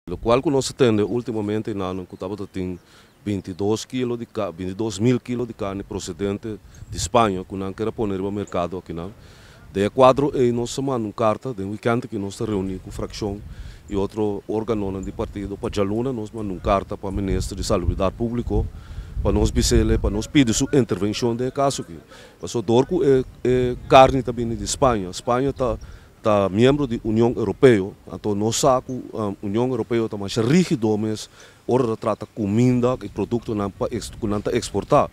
Locual cu nos a tende ultimomente in añonan cu tabata tin bintidos kilo di carne, bintidos mil kilo di carne procedente di Spaña cu nan keda pone riba mercado akinan. Den e cuadro ey nos a manda un carta den weekend aki nos ta reuni cu fraccion y otro organonan di partido. Pa djaluna nos manda un carta pa Minister di Salubridad Publico pa nos bisel'e pa nos pidi su intervencion den e caso aki. Pasobra dor cu e carne ta bini di Spaña, Spaña ta ta miembro di Union Europeo, anto nos sa cu Union Europeo ta masha rigido mes ora ta trata cuminda y productonan pa cu nan ta exporta.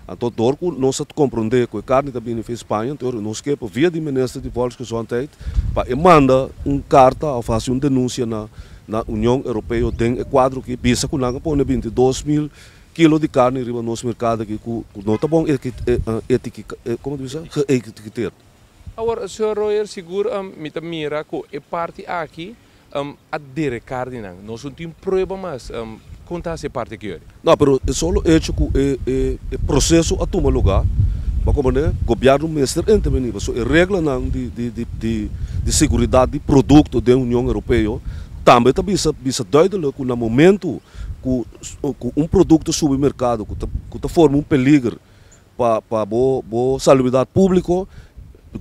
Anto dor cu nos ta compronde cu e carni ta bini via Spaña, anto ora nos ke pa via di Minister di Volksgezondheid pa e manda un carta of haci un denuncia na na Union Europeo den e cuadro aki bisa cu nan a pone binti dos mil kilo di carni riba nos mercado aki cu no ta bon etiqueta, como ta bisa? Geëtiketerd. Awor, Señor Royer, sigur mi ta mira cu e parti aki a derecar di nan. Nos no tin prueba mas. Con ta hasi e parti aki yori? No, pero e solo hecho cu e proceso a tuma lugar, bo komo ne, gobierno mester interveni, pasobra e reglanan di seguridad di producto den Union Europeo tambe ta bisa, bisa duidelijk cu na momento cu un producto subi mercado cu ta forma un peliger, pa pa bo bo salubridat publico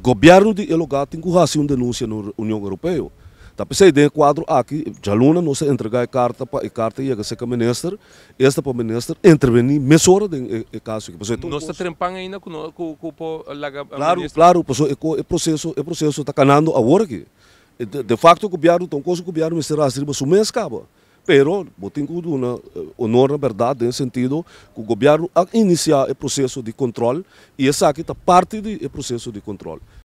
gobierno di e lugar tin cu haci un denuncia no Union Europeo ta pesey den e cuadro aki djaluna nos a entrega e carta pa e carta yega seca e minister esta pa minister interveni mesora den e e caso aki pasobra e ta un cosa. Nos ta trempan ainda cu nos cu cu por laga a minister. Claro claro pasobra e co e proceso e proceso ta canando awor aki de facto gobierno ta un cosa gobierno mester haci riba su mes caba Pero bo tin ku duna onor na bèrdat den e sentido ku gobièrnu a inisiá e proseso di kòntròl i esaki ta parti di e proseso di kòntròl.